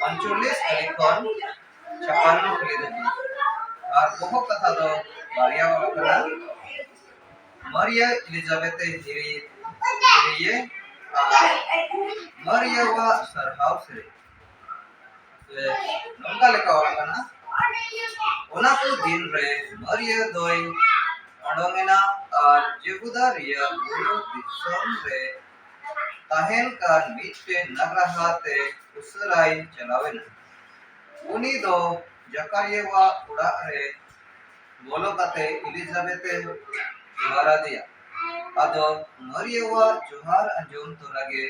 ᱯᱟᱸᱪᱪᱚᱞᱞᱤᱥ ᱫᱷᱟᱹᱵᱤᱡ ᱠᱷᱚᱱ ᱪᱷᱟᱯᱟᱱᱱᱚ ᱠᱷᱟᱹᱞᱤ ᱫᱷᱟᱹᱵᱤᱡ ᱟᱨ ᱵᱚᱦᱚᱜ ᱠᱟᱛᱷᱟ ᱫᱚ ᱵᱟᱨᱭᱟ ᱚᱞ ᱟᱠᱟᱱᱟ ᱢᱟᱨᱤᱭᱟ ᱮᱞᱤᱡᱟᱵᱮᱛᱷ ᱡᱤᱨᱤ ᱡᱤᱨᱤᱭᱮ ᱟᱨ ᱢᱟᱨᱤᱭᱟᱣᱟᱜ ᱥᱟᱨᱦᱟᱣ ᱥᱮᱨᱮᱧ ᱥᱮ ᱱᱚᱝᱠᱟ ᱞᱮᱠᱟ ᱚᱞ ᱟᱠᱟᱱᱟ ᱚᱱᱟ ᱠᱚ ᱫᱤᱱ ᱨᱮ ᱢᱟᱨᱤᱭᱟ ᱫᱚᱭ ᱚᱰᱚᱝ ᱮᱱᱟ ᱟᱨ ᱡᱮᱦᱩᱫᱟ ᱨᱮᱭᱟᱜ ᱵᱩᱨᱩ ᱫᱤᱥᱚᱢ ᱨᱮ ᱛᱟᱦᱮᱱ ᱠᱟᱱ ᱢᱤᱫᱴᱮᱱ ᱱᱟᱜᱨᱟᱦᱟ ᱛᱮ ᱩᱥᱟᱹᱨᱟᱭ ᱪᱟᱞᱟᱣ ᱮᱱᱟ᱾ ᱩᱱᱤ ᱫᱚ ᱡᱟᱠᱟᱨᱤᱭᱟᱣᱟᱜ ᱚᱲᱟᱜ ᱨᱮ ᱵᱚᱞᱚ ᱠᱟᱛᱮ ᱤᱞᱤᱡᱟᱵᱮᱛ ᱮ ᱡᱚᱦᱟᱨ ᱟᱫᱮᱭᱟ᱾ ᱟᱫᱚ ᱢᱟᱨᱤᱭᱟᱣᱟᱜ ᱡᱚᱦᱟᱨ ᱟᱸᱡᱚᱢ ᱛᱚᱨᱟ ᱜᱮ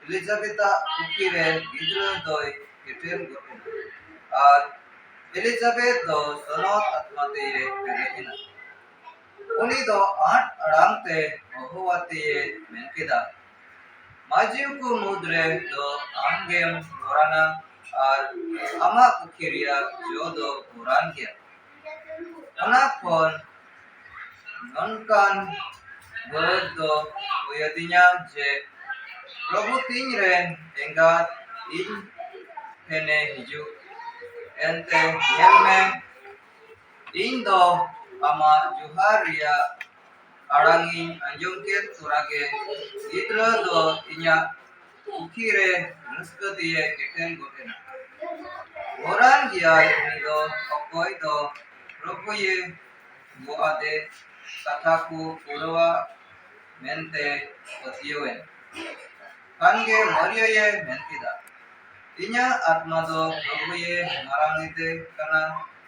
ᱤᱞᱤᱡᱟᱵᱮᱛᱟᱜ ᱠᱩᱠᱷᱤ ᱨᱮ ᱜᱤᱫᱽᱨᱟᱹ ᱫᱚᱭ ᱮᱴᱮᱨ ᱜᱚᱫ ᱮᱱᱟ ᱟᱨ ᱤᱞᱤᱡᱟᱵᱮᱛ ᱫᱚ ᱥᱚᱱᱚᱛ ᱟᱛᱢᱟ ᱛᱮᱭᱮ ᱯᱮᱨᱮᱡ ᱮᱱᱟ᱾ ᱩᱱᱤ ᱫᱚ ᱟᱸᱴ ᱟᱲᱟᱝ ᱛᱮ ᱦᱚᱦᱚᱣᱟᱛᱮ ᱮ ᱢᱮᱱ ᱠᱮᱫᱟ, ᱢᱟᱹᱡᱷᱤ ᱠᱚ ᱢᱩᱫᱽ ᱨᱮ ᱫᱚ ᱟᱢ ᱜᱮᱢ ᱜᱚᱨᱟᱱᱟ ᱟᱨ ᱟᱢᱟᱜ ᱯᱩᱠᱷᱤ ᱨᱮᱭᱟᱜ ᱡᱚ ᱫᱚ ᱜᱚᱨᱟᱱ ᱜᱮᱭᱟ᱾ ᱚᱱᱟ ᱠᱷᱚᱱ ᱱᱚᱝᱠᱟᱱ ᱵᱟᱹᱲᱟᱹᱡ ᱫᱚ ᱦᱩᱭ ᱟᱹᱫᱤᱧᱟ ᱡᱮ ᱯᱨᱚᱵᱷᱩ ᱛᱤᱧ ᱨᱮᱱ ᱮᱸᱜᱟᱛ ᱤᱧ ᱴᱷᱮᱱᱮ ᱦᱤᱡᱩᱜ᱾ ᱮᱱᱛᱮ ᱧᱮᱞ ᱢᱮ᱾ ᱤᱧ ᱫᱚ ᱟᱢᱟᱜ ᱡᱚᱦᱟᱨ ᱨᱮᱭᱟᱜ ᱟᱲᱟᱝ ᱤᱧ ᱟᱸᱡᱚᱢ ᱠᱮᱫ ᱛᱚᱨᱟ ᱜᱮ ᱜᱤᱫᱽᱨᱟᱹ ᱫᱚ ᱤᱧᱟᱹᱜ ᱯᱩᱠᱷᱤ ᱨᱮ ᱨᱟᱹᱥᱠᱟᱹ ᱛᱮᱭᱮ ᱮᱴᱮᱱ ᱜᱚᱫ ᱮᱱᱟ᱾ ᱜᱚᱨᱟᱱ ᱜᱮᱭᱟᱭ ᱩᱱᱤ ᱫᱚ ᱚᱠᱚᱭ ᱫᱚ ᱯᱨᱚᱵᱷᱩᱭᱮ ᱜᱚᱜ ᱟᱫᱮ ᱠᱟᱛᱷᱟ ᱠᱚ ᱯᱩᱨᱟᱹᱣᱟ ᱢᱮᱱᱛᱮ ᱯᱟᱹᱛᱭᱟᱹᱣ ᱮᱱ ᱠᱷᱟᱱ ᱜᱮ ᱢᱟᱨᱤᱭᱟᱭᱮ ᱢᱮᱱ ᱠᱮᱫᱟ, ᱤᱧᱟᱹᱜ ᱟᱛᱢᱟ ᱫᱚ ᱯᱨᱚᱵᱷᱩᱭᱮ ᱢᱟᱨᱟᱝ ᱮᱫᱮ ᱠᱟᱱᱟ᱾